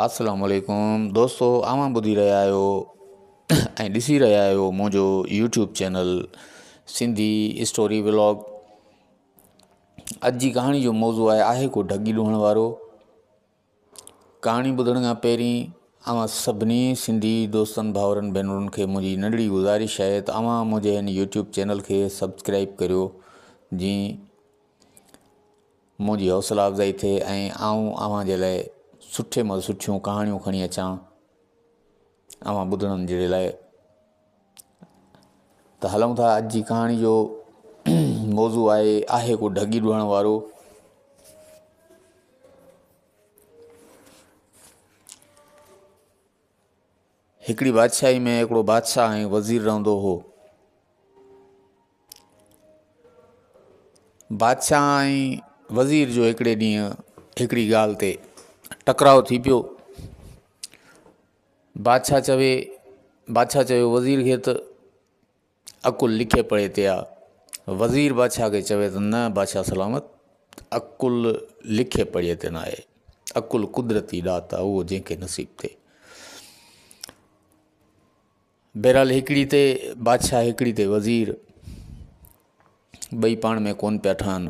السلام عليڪم دوستو اوهان ٻڌي رهيا آهيو ۽ ڏسي رهيا آهيو منهنجو YouTube channel Sindhi story vlog اڄ جي ڪهاڻي جو موضوع آهي آهي ڪو ڍڳي ڏوهڻ وارو ڪهاڻي ٻڌڻ کان پهرين اوهان سڀني سنڌي دوستن ڀاورن ڀينرن کي منهنجي ننڍڙي گذارش آهي ته اوهان منهنجي هن يوٽيوب چينل کي سبسڪرائب ڪريو جي منهنجي حوصلا افزائي ٿئي ۽ آئون اوهان جي لاء سٺي مان سٺيون ڪهاڻيون کڻي اچان اوهان ٻڌڻن جهڙي لاء ته هلون ٿا اڄ جي ڪهاڻي جو موضوع آهي آهي ڪو ڍڳي ڏوهڻ وارو هڪڙي بادشاهي ۾ هڪڙو بادشاهه ۽ وزير رهندو هو بادشاهه ۽ وزير جو هڪڙي ڏينهن هڪڙي ڳالهه تي ٽڪراء ٿي پيو بادشاهه چوي بادشاهه چوي وزير کي ته عقل لکي پڙهي تي آ. وزير بادشاهه کي چوي ته نه بادشاهه سلامت عقل لکي پڙهي تي ناهي. عقل قدرتي ڏات آ اهو جنهن کي نصيب ٿئي. بهرحال هڪڙي تي بادشاهه هڪڙي تي وزير ٻئي پاڻ ۾ ڪون پيا ٺهن.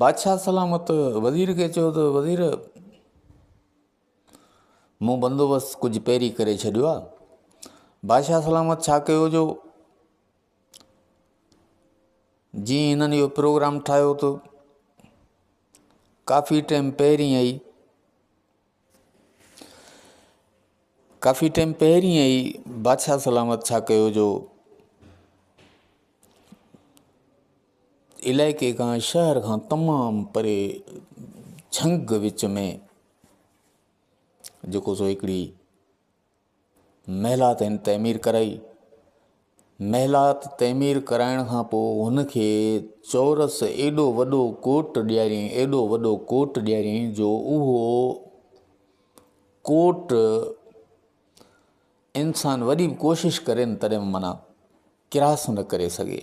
بادشاهه سلامت وزير کي چيو ته وزير مون بندوبست ڪجهه پيري ڪري ڇڏيو آ بادشاهه سلامت ڇا ڪيو جو جي هنن اهو پروگرام ٺاهيو ته ڪافي ٽائيم پهرين آئي ڪافي ٽيم پهرين ئي بادشاهه سلامت ڇا ڪيو جو علائقي کان شهر کان تمام پري جھنگ وچ ۾ جيڪو سو هڪڙي محلات هن تعمير ڪرائي. محلات تعمير ڪرائڻ کان پوء هن کي چورس ايڏو وڏو ڪوٽ ڏياريائين، ايڏو وڏو ڪوٽ ڏياريائين جو اهو ڪوٽ انسان وڏي به ڪوشش ڪري نه تڏهن به معنيٰ ڪراس نه ڪري سگهي.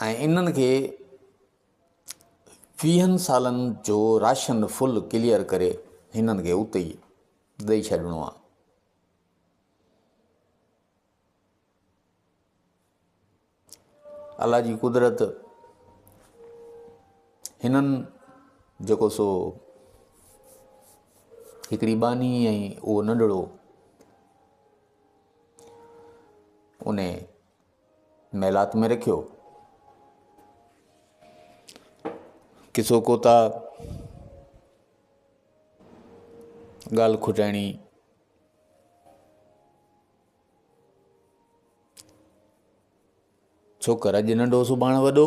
۽ انهن کي ويهن سالن جو راشن فل ڪليئر ڪري هنن کي اتي ئي ڏئي ڇڏڻو آ. الله جي قدرت هنن جيڪو سو هڪڙي ٻانهي ۽ اهو ننڍڙو ان محلات ۾ رکيو. ڪسو ڪوتا ڳالهه کٽائڻي ڇوڪر اڄ ننڍو سڀاڻ وڏو.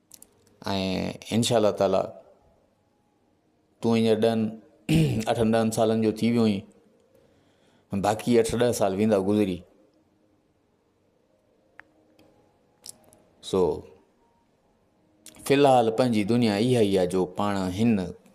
۽ انشاء الله تعالٰي تون ھينئر ڏھن اٺن ڏھن سالن جو ٿي ويو آھين باقي اٺ ڏھه سال ويندا گذري سو فلحال پنھنجي دنيا اھا ئي آھي جو پاڻ ھن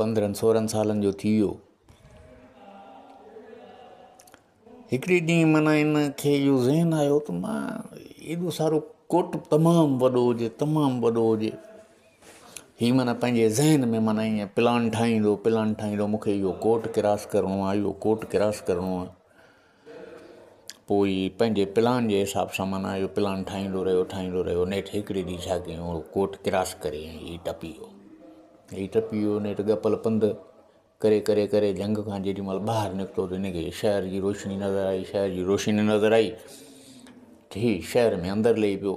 پندرهن سورهن سالن جو ٿي ويو. هڪڙي ڏينهن معنيٰ ان کي اهو ذهن آيو ته معنيٰ ايڏو سارو ڪوٽ تمام وڏو هجي تمام وڏو هجي هي معنيٰ پنهنجي ذهن ۾ معنيٰ ايئن پلان ٺاهيندو پلان ٺاهيندو مون کي اهو ڪوٽ ڪراس ڪرڻو آهي اهو ڪوٽ ڪراس ڪرڻو آهي پوء پنهنجي پلان جي حساب سان معنيٰ اهو پلان ٺاهيندو رهيو ٺاهيندو رهيو نيٺ هڪڙي ڏينهن ڇا ڪيائون اهو ڪوٽ ڪراس ڪري ۽ هي ٽپي ويو هي ٽپي ويو نيٺ ڳپل پنڌ ڪري ڪري ڪري جهنگ کان جيڏي مهل ٻاهر نڪتو ته هن کي شهر جي روشني نظر آئي شهر جي روشني نظر آئي ٿي شهر ۾ اندر لهي پيو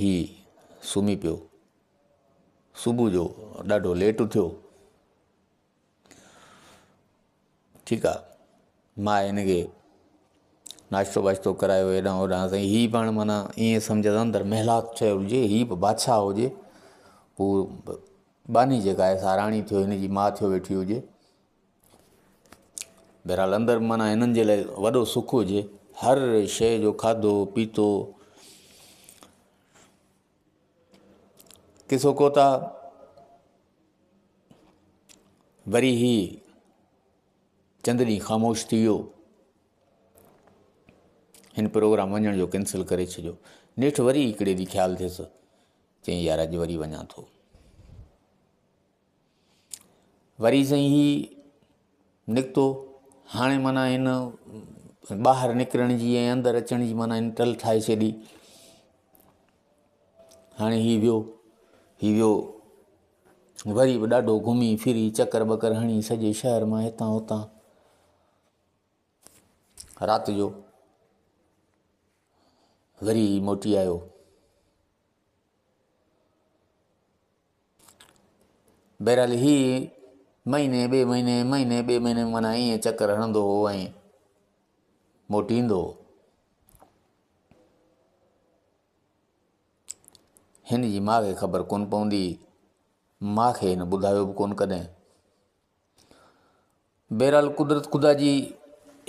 هي سمهي پيو. صبح جو ڏاڍو ليٽ اٿيو. ٺيڪ آ ماء هن کي ناشتو واشتو ڪرايو هيڏانهن هوڏانهن سائين هي پاڻ معنيٰ ائين سمجهه ته اندر محلات ٺهيل هجي هي به بادشاهه هجي هو باني جيڪا آهي سا راڻي ٿيو هن جي ماء ٿيو ويٺي هجي بهرحال اندر معنيٰ هنن جي لاء وڏو سک هجي هر شيء جو کاڌو پيتو ڪسو ڪوتا وري هي چند ڏينهن خاموش ٿي ويو هن پروگرام وڃڻ جو ڪينسل ڪري ڇڏيو نيٺ وري هڪڙي ڏينهن خيال ٿيس چيائين يار اڄ وري وڃان ٿو وري سائين هي نڪتو هاڻي معنيٰ هن ٻاهر نڪرڻ جي ۽ اندر اچڻ جي معنيٰ هن ٽل ٺاهي ڇڏي هاڻي هي ويو هي ويو وري به ڏاڍو گهمي ڦري چڪر ٻڪر هڻي سڄي شهر مان هتان هتان رات جو وري موٽي آيو بهرحال هي مهيني ٻئي مهيني مهيني ٻئي مهيني مانا ائين چڪر هڻندو هو ۽ موٽي ايندو هو هن جي ماء کي خبر ڪونه پوندي ماء کي هن ٻڌايو به ڪونه ڪڏهن بهرحال قدرت خدا جي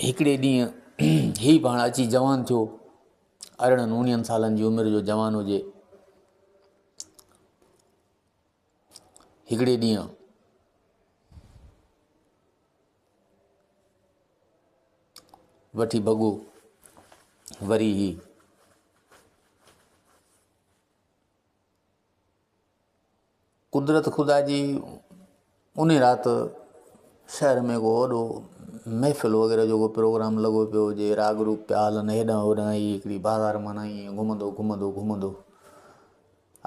هڪڙي ڏينهن هي به هاڻ اچي جوان ٿيو ارڙهن اڻيهن سالن جي عمر جو جوان هجي هڪڙي ڏينهن وٺي بگو وري هي قدرت خدا جي انهي رات شهر ۾ ڪو وڏو محفل وغيره جو ڪو پروگرام لڳو پيو هجي راڳ روپ پيا هلن هيڏانهن هوڏانهن هي هڪڙي بازار مان ائين گهمندو گهمندو گهمندو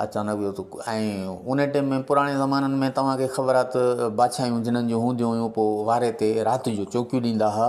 اچانڪ ويو ته ۽ ان ٽيم ۾ پراڻي زمانن ۾ توهان کي خبر آهي ته بادشاهيون جنن جون هونديون هيون پوء واري تي رات جو چوڪيون ڏيندا هئا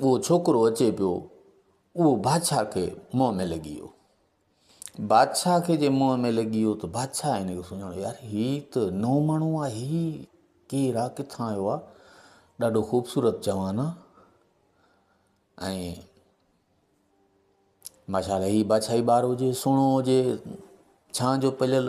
اهو ڇوڪرو اچي پيو، اهو بادشاهه کي منهن ۾ لڳي ويو. بادشاهه کي جي منهن ۾ لڳي ويو ته بادشاهه هن کي سڃاڻو، يار هي ته نئون ماڻهو آ، هي ڪير آ، ڪٿان آيو آ، ڏاڍو خوبصورت جوان آ ۽ ماشاءالله هي بادشاهي ٻار هجي، سهڻو هجي، ڇانء جو پليل.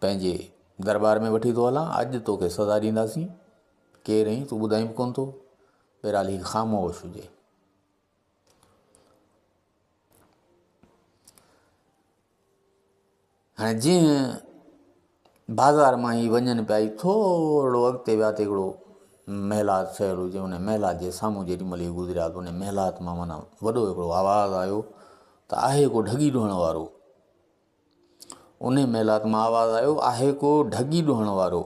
پنهنجي درٻار ۾ وٺي ٿو هلان اڄ توکي سزا ڏينداسين ڪير آهين تون ٻڌائين به ڪونه ٿو بهرحال هي خاموش هجي هاڻي جيئن بازار مان هي وڃن پيا ٿورڙو اڳتي ويا ته هڪڙو محلات ٺهيل هجي ان محلات جي سامهون جيڏي مهل هي گذريا ته ان محلات مان معنيٰ وڏو هڪڙو آواز آيو ته آهي ڪو ڍڳي ڍوئڻ وارو انهيء محلات مان آواز آيو، آهي ڪو ڍڳي ڏوهڻ وارو.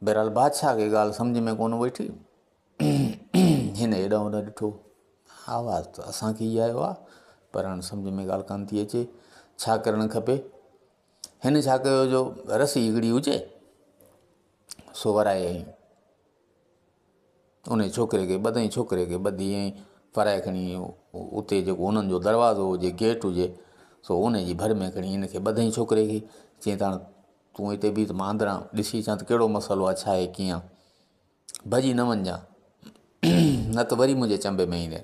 بهرحال بادشاهه کي ڳالهه سمجهه ۾ ڪونه ويٺي. هن هيڏانهن هوڏانهن ڏٺو. آواز ته اسان کي ئي آيو آهي، پر هاڻي سمجهه ۾ ڳالهه ڪانه ٿي اچي. ڇا ڪرڻ کپي؟ هن ڇا ڪيو جو رسي هڪڙي هجي سو ورائي ۽ انهيء ڇوڪري کي ٻڌئين ڇوڪري کي ٻڌي ائين ڦرائي کڻي اتي جيڪو انهن جو دروازو هجي گيٽ هجي سو ان جي ڀر ۾ کڻي ان کي ٻڌئين ڇوڪري کي چيائين ته هاڻ تون هتي بيهه ته مان اندران ڏسي اچان ته ڪهڙو مسئلو آهي ڇا آهي ڪيئن آهي ڀڄي نه وڃجان نه ته وري منهنجي چنب ۾ ايندين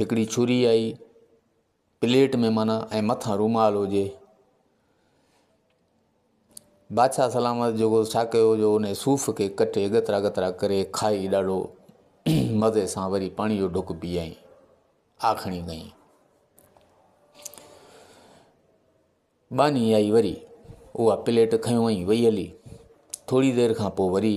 هڪڙي چھري آئي پليٽ ۾ معنيٰ ۽ مٿان رومال هجي. بادشاهه سلامت جيڪو ڇا ڪيو جو ان صوف کي ڪٽي ڳترا ڳترا ڪري کائي ڏاڍو مزي سان وري پاڻي جو ڍڪ پيئائين آکڻي ڪئين ٻانهي آئي وري اها پليٽ کنيو ۽ وئي هلي ٿوري دير کان پوء وري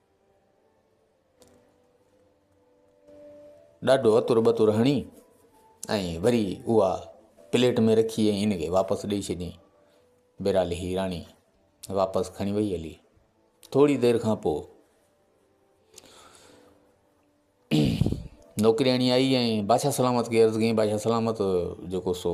ڏاڍو اتر بتر هڻي ۽ وري اها پليٽ ۾ رکي ۽ ان کي واپس ڏئي ڇڏيائين بهرحال هي راڻي واپس کڻي وئي هلي ٿوري دير کان پوء نوڪرياڻي آئي ۽ بادشاهه سلامت کي عرض ڪيائين بادشاهه سلامت جيڪو سو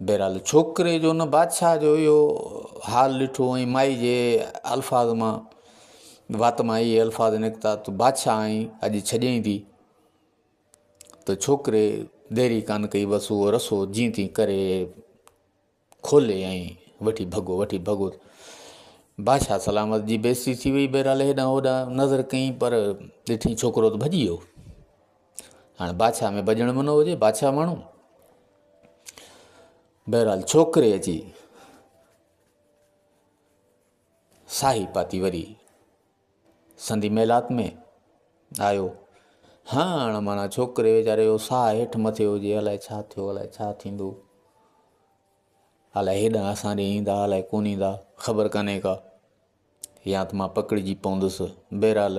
بهرحال ڇوڪري جو ان بادشاهه جو اهو حال ڏٺو ۽ مائي جي الفاظ مان وات مان اهي الفاظ نڪتا ته بادشاهه آئين اڄ ڇڏيائين ٿي ته ڇوڪري ديري ڪانه ڪئي بس اهو رسو جيئن تيئن ڪري کولي ۽ وٺي ڀڳو وٺي ڀڳو. بادشاهه سلامت جي بيستي ٿي وئي بهرحال هيڏانهن هوڏانهن نظر ڪئين پر ڏٺئين ڇوڪرو ته ڀڄي ويو هاڻي بادشاهه ۾ ڀڄڻ منو هجي بادشاهه ماڻهو بهرحال ڇوڪري اچي ساهي پاتي وري سندي ميلات ۾ آيو هاڻ معنيٰ ڇوڪري ويچاري جو ساهه هيٺ مٿي هجي الائي ڇا ٿيو الائي ڇا ٿيندو الائي هيڏانهن اسان ڏي ايندا الائي ڪون ايندا خبر ڪانهي ڪا يا ته مان پڪڙجي پوندس بهرحال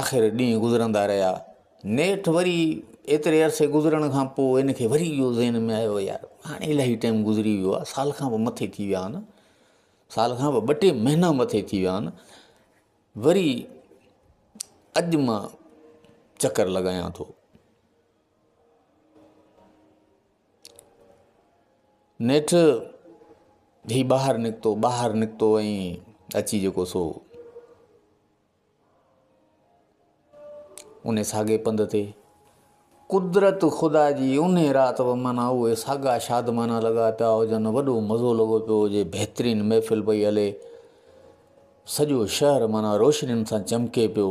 آخر ڏينهن گذرندا رهيا. نيٺ وري ايتري عرصي گذرڻ کان پوء هن کي وري اهو ذهن ۾ آيو يار هاڻي الاهي ٽائيم گذري ويو آهي سال کان به مٿي ٿي ويا آهن سال کان به ٻه ٽي مهينا مٿي ٿي ويا آهن وري اڄ مان چڪر لڳايان ٿو نيٺ هي ٻاهر نڪتو ٻاهر نڪتو ۽ اچي جيڪو سو ان ساڳي پنڌ تي قدرت خدا جي ان رات به مانا اهي ساڳا شادمانا لڳا پيا هجن وڏو مزو لڳو پيو هجي بهترين محفل پئي هلي سڄو شهر مانا روشنين سان چمڪي پيو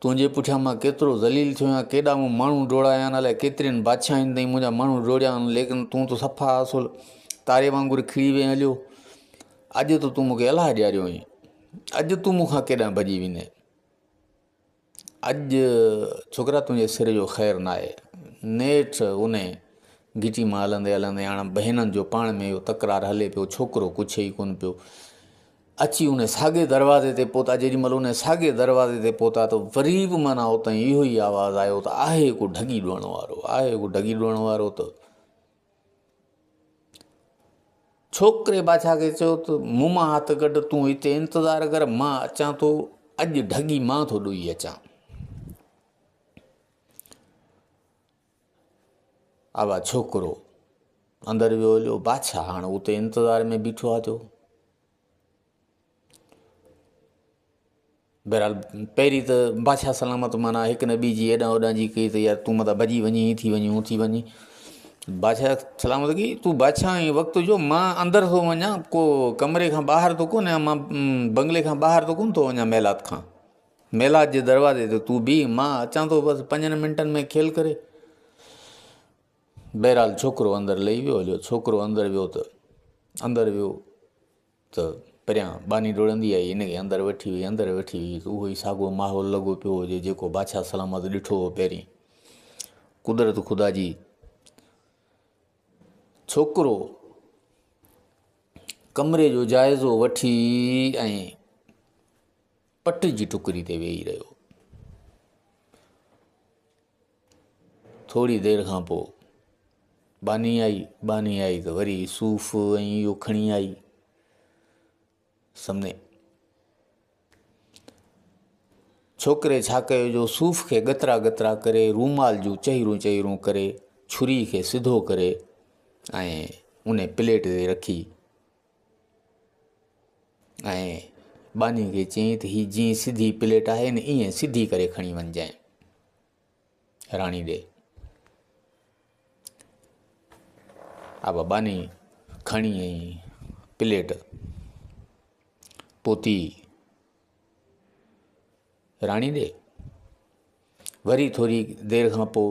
تنهنجي پٺيان مان ڪيترو ذليل ٿيو آهيان ڪيڏا مون ماڻهو ڊوڙايا آهن الائي ڪيترين بادشاهين تائين منهنجا ماڻهو ڊوڙيا آهن ليڪن تون ته صفا اصل تاري وانگر کڙي وئين هليو اڄ ته تون مونکي الاهه ڏياريو آهين اڄ تون مونکان ڪيڏانهن ڀڄي ويندين اڄ ڇوڪرا تنهنجي سر جو خير نه آهي نيٺ ان گچي مان هلندي هلندي هاڻ بهنن جو پاڻ ۾ اهو تڪرار هلي پيو ڇوڪرو ڪڇي ئي ڪونه پيو اچي ان ساڳي دروازي تي پهتا، جيڏي مهل ان ساڳي دروازي تي پهتا ته وري به معنيٰ اتان اهو ئي آواز آيو ته آهي ڪو ڍڳي ڏوئڻ وارو، آهي ڪو ڍڳي ڏوئڻ وارو ته ڇوڪري بادشاهه کي چيو ته مون مان هٿ ڪڍ تون هتي انتظار ڪر مان اچان ٿو اڄ ڍڳي مان ٿو ڏوئي اچان اوا ڇوڪرو اندر ويو هليو بادشاهه هاڻ اتي انتظار ۾ بيٺو آتو بهرحال پهرين ته بادشاهه سلامت مانا هڪ نه ٻي جي هيڏانهن هوڏانهن جي ڪئي ته يار تون متان ڀڄي وڃي هي ٿي وڃي هو ٿي وڃي بادشاهه سلامت ڪئي تون بادشاهه آهين وقت جو مان اندر ٿو وڃان ڪو ڪمري کان ٻاهر ٿو ڪونه آهيان مان بنگلي کان ٻاهر ٿو ڪونه ٿو وڃان محلات کان ميلاد جي دروازي تي تون بيهه مان اچان ٿو بس پنجن منٽن ۾ کيل ڪري. بهرحال ڇوڪرو اندر لهي ويو جو ڇوڪرو اندر ويو ته اندر ويو ته پريان باني ڊوڙندي آئي ان کي اندر وٺي وئي اندر وٺي وئي ته اهو ئي ساڳو ماحول لڳو پيو هجي جيڪو بادشاهه سلامت ڏٺو هو پهرين قدرت خدا جي ڇوڪرو ڪمري جو جائزو وٺي ۽ پٽ جي ٽڪري تي ويهي رهيو. ٿوري دير کان پوء باني آئي باني آئي ته وري صوف ۽ اهو کڻي آئي سمني ڇوڪري ڇا ڪيو جو صوف کي ڳترا ڳترا ڪري رومال جون چهرون چهرون ڪري ڇري کي سڌو ڪري ۽ ان پليٽ تي رکي ۽ ٻانهي کي چيائين ته هي جيئن سڌي پليٽ آهي نه ائين سڌي ڪري کڻي وڃجانء راڻي ڏي اب ٻانهي کڻي پليٽ پوتي راڻي ڏي وري ٿوري دير کان پوء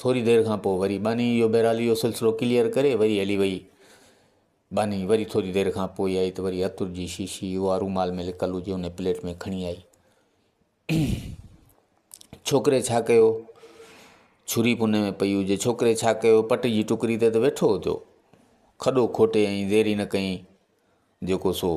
ٿوري دير کان پوء وري ٻانهي اهو بهرحال اهو سلسلو ڪليئر ڪري وري هلي وئي. ٻانهي وري ٿوري دير کان پوء آئي ته وري عطر جي شيشي اها رومال ۾ لڪل هجي ان پليٽ ۾ کڻي آئي. ڇوڪري ڇا ڪيو؟ ڇري پني ۾ پئي هجي ڇوڪري ڇا ڪيو؟ پٽ جي ٽڪري تي ته ويٺو هتو کڏو کوٽي ۽ دير ئي نه ڪئين جيڪو سو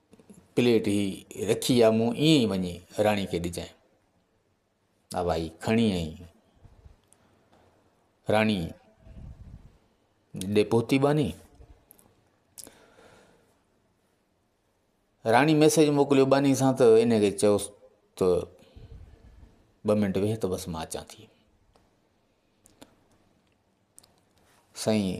پليٽ هي رکي آ مون ائين ئي وڃي راڻي کي ڏجانء. آء وائي کڻي ائين راڻي ڏي پهتي باني راڻي ميسيج موڪليو باني سان ته ان کي چئوس ته ٻه منٽ ويهه ته بس مان اچان ٿي سائين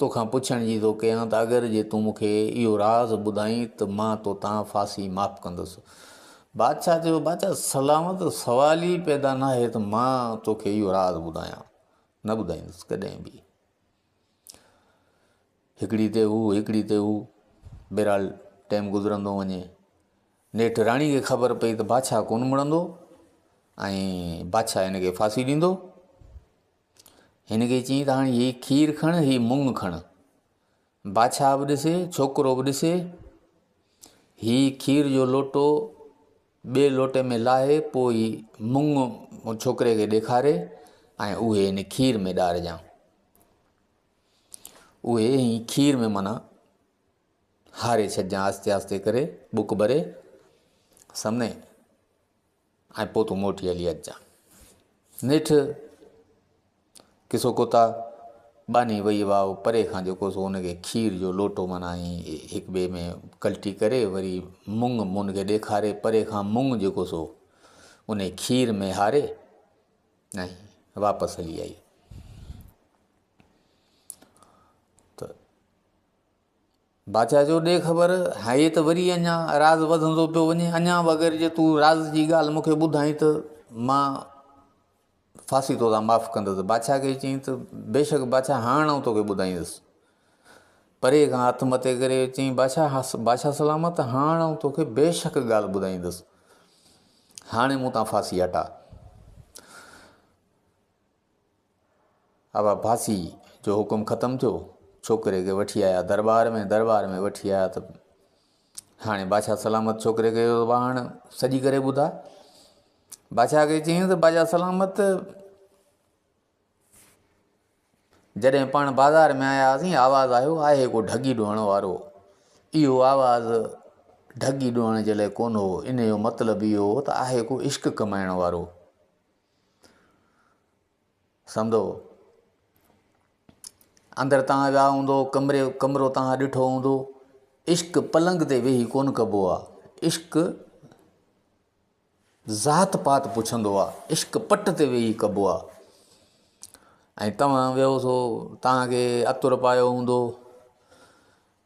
توکان پڇڻ جي ٿو ڪيان ته اگر جي تون مون کي اهو راز ٻڌائين ته مان توتان ڦاسي معاف ڪندس. بادشاهه چيو، بادشاهه سلامت، سوال ئي پيدا ناهي ته مان توکي اهو راز ٻڌايان. نه ٻڌائيندس ڪڏهن به. هڪڙي تي هو، هڪڙي تي هو. بهرحال ٽيم گذرندو وڃي. نيٺ راڻي کي خبر پئي ته بادشاهه ڪونه مڙندو ۽ بادشاهه هن کي ڦاسي ڏيندو. هن کي چيائين ته هاڻي هي کير کڻ هي مونگ کڻ بادشاهه به ڏسي ڇوڪرو به ڏسي هي کير جو لوٽو ٻئي لوٽي ۾ لاهي پوء هي مونگ ڇوڪري کي ڏيکاري ۽ اهي هن کير ۾ ڏارجان اهي هي کير ۾ مانا هاري ڇڏجان آهستي آهستي ڪري بک ڀري سمي ۽ پوء تون موٽي هلي اچجانء. نيٺ ڪسو ڪوتا ٻانهي وئي واء پري کان جيڪو سو ان کي کير جو لوٽو معنيٰ ائين هڪ ٻئي ۾ ڪلٽي ڪري وري مڱ مون کي ڏيکاري پري کان مڱ جيڪو سو انهي کير ۾ هاري ۽ واپس هلي آئي ته بادشاهه چيو، ڏي خبر، هيء ته وري اڃا راز وڌندو پيو وڃي، اڃا به اگر جي تون راز جي ڳالهه مون کي ٻڌائين ته مان ڦاسي تو تان معاف ڪندس. بادشاهه کي چيائين ته، بيشڪ بادشاهه هاڻ آئون توکي ٻڌائيندس. پريء کان هٿ مٿي ڪري چيائين، بادشاهه بادشاهه سلامت، هاڻ آئون توکي بيشڪ ڳالهه ٻڌائيندس. هاڻي مون تان ڦاسي هٽاء. ابا ڀاسي جو حڪم ختم ٿيو، ڇوڪري کي وٺي آيا درٻار ۾، درٻار ۾ وٺي آيا ته هاڻي بادشاهه سلامت ڇوڪري کي چيو ته ابا هاڻ سڄي ڪري ٻڌاء، بادشاهه کي چيائين ته بادشاهه سلامت جڏهن پاڻ بازار ۾ آيا هئاسين آواز آيو آهي ڪو ڍڳي ڊوئڻ وارو اهو آواز ڍڳي ڊوئڻ جي لاء ڪونه هو ان جو مطلب اهو هو ته آهي ڪو عشق ڪمائڻ وارو سندو اندر تان ويا هوندو ڪمري ڪمرو تان ڏٺو هوندو عشق پلنگ تي ويهي ڪون ڪبو آ عشق ذات پات پڇندو آ عشق پٽ تي ويهي ڪبو آ ۽ توهان ويهو سو تان کي اتر پايو هوندو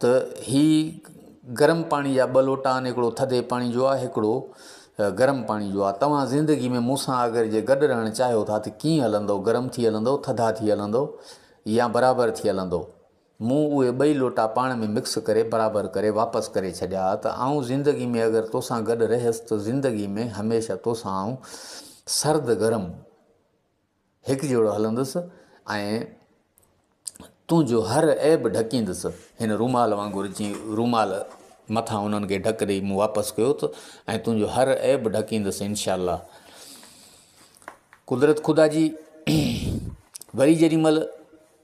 ته هي گرم پاڻي جا ٻه لوٽا آهن هڪڙو ٿڌي پاڻي جو آهي هڪڙو گرم پاڻي جو آهي توهان زندگي ۾ مون سان اگر جي گڏ رهڻ چاهيو ٿا ته ڪيئن هلندو گرم ٿي هلندو ٿڌا ٿي هلندو يا برابر ٿي هلندو مون اهي ٻئي لوٽا پاڻ ۾ مڪس ڪري برابر ڪري واپس ڪري ڇڏيا ته آئون زندگي ۾ اگر توسان گڏ رهيس ته زندگي ۾ هميشه توسان آئون سرد گرم هڪ جهڙو هلندس ۽ تنهنجو هر عيب ڍڪيندس. هن رومال وانگر جيئن رومال مٿان انهن کي ڍڪ ڏئي مون واپس ڪيو ٿو ۽ تنهنجو هر عيب ڍڪيندس انشاء الله. قدرت خدا جي وري جيڏي مهل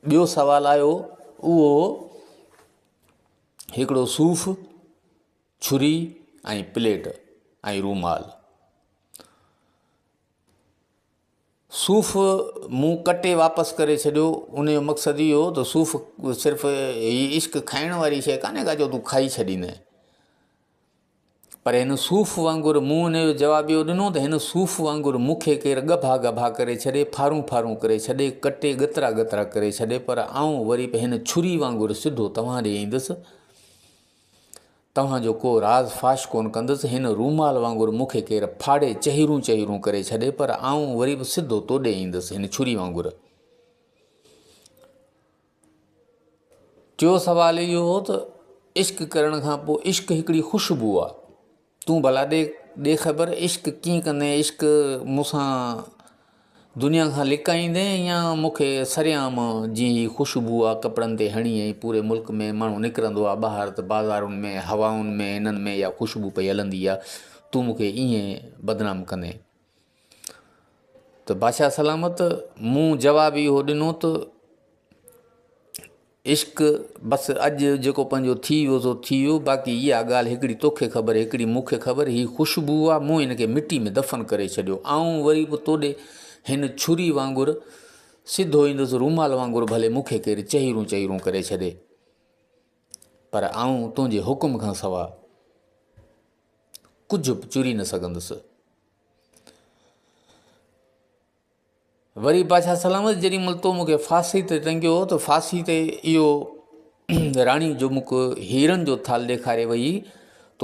ٻيو سوال آيو اهو هڪڙو صوف ڇري ۽ پليٽ ۽ رومال صوف مون ڪٽي واپس ڪري ڇڏيو، ان جو مقصد اهو هو ته صوف صرف هي عشق کائڻ واري شيء ڪانهي ڪا جو تون کائي ڇڏيندين. پر هن صوف وانگر مون ان جو جواب اهو ڏنو ته هن صوف وانگر مون کي ڪير ڳڀا ڳڀا ڪري ڇڏي، ڦارون ڦارون ڪري ڇڏي، ڪٽي ڳترا ڳترا ڪري ڇڏي پر آئون وري به هن ڇري وانگر سڌو توهان ڏي ايندس. توهان جو ڪو راز فاش ڪونه ڪندس، هن رومال وانگر مون کي ڪير ڦاڙي چهيرون چهيرون ڪري ڇڏي پر آئون وري به سڌو تو ڏي ايندس هن ڇري وانگر. ٽيون سوال اهو هو ته عشق ڪرڻ کان پوء عشق هڪڙي خوشبو آ. تون ڀلا ڏي ڏي خبر عشق ڪيئن ڪندين عشق مون سان دنيا کان لڪائيندين يا مون کي سرعام جيئن هي خوشبو آ ڪپڙن تي هڻي ۽ پوري ملڪ ۾ ماڻهو نڪرندو آ ٻاهر ته بازارن ۾ هوائن ۾ هنن ۾ اها خوشبو پئي هلندي آ تون مون کي ائين بدنام ڪندين ته بادشاهه سلامت مون جواب اهو ڏنو ته عشق بس اڄ جيڪو پنهنجو ٿي ويو سو ٿي ويو باقي اها ڳالهه هڪڙي توکي خبر هڪڙي مون کي خبر هي خوشبو آ مون هن کي مٽي ۾ دفن ڪري ڇڏيو آئون وري به توڏي هن ڇري وانگر سڌو ايندس رومال وانگر ڀلي مون کي ڪير چهيرون چهيرون ڪري ڇڏي پر آئون تنهنجي حڪم کان سوا ڪجهه به چري نه سگهندس وري بادشاهه سلامت جيڏي مهل تو مون کي ڦاسي تي ٽنگيو هو ته ڦاسي تي اهو راڻي جو مک هيرن جو ٿال ڏيکاري وئي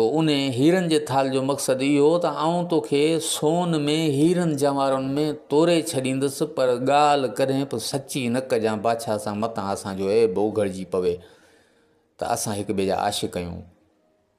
تو ان هيرن جي ٿال جو مقصد اهو هو ته آئون توکي سون ۾ هيرن جوارن ۾ توري ڇڏيندس پر ڳالهه ڪڏهن به سچي نه ڪجان بادشاهه سان متان اسان جو عيب اوگهڙجي پوي ته اسان هڪ ٻئي جا عاشق آهيون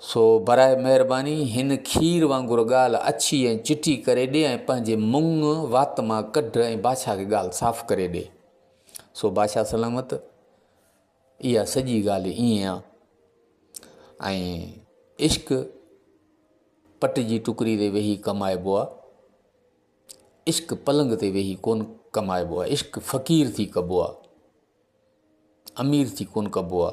سو برائي مهرباني هن کير وانگر ڳالهه اڇي ۽ چٽي ڪري ڏي ۽ پنهنجي منڱ وات مان ڪڍ ۽ بادشاهه کي ڳالهه صاف ڪري ڏي. سو بادشاهه سلامت اها سڄي ڳالهه ائين آ. ۽ عشق پٽ جي ٽڪري تي ويهي ڪمائبو آ. عشق پلنگ تي ويهي ڪون ڪمائبو آ. عشق فقير ٿي ڪبو آ. امير ٿي ڪون ڪبو آ.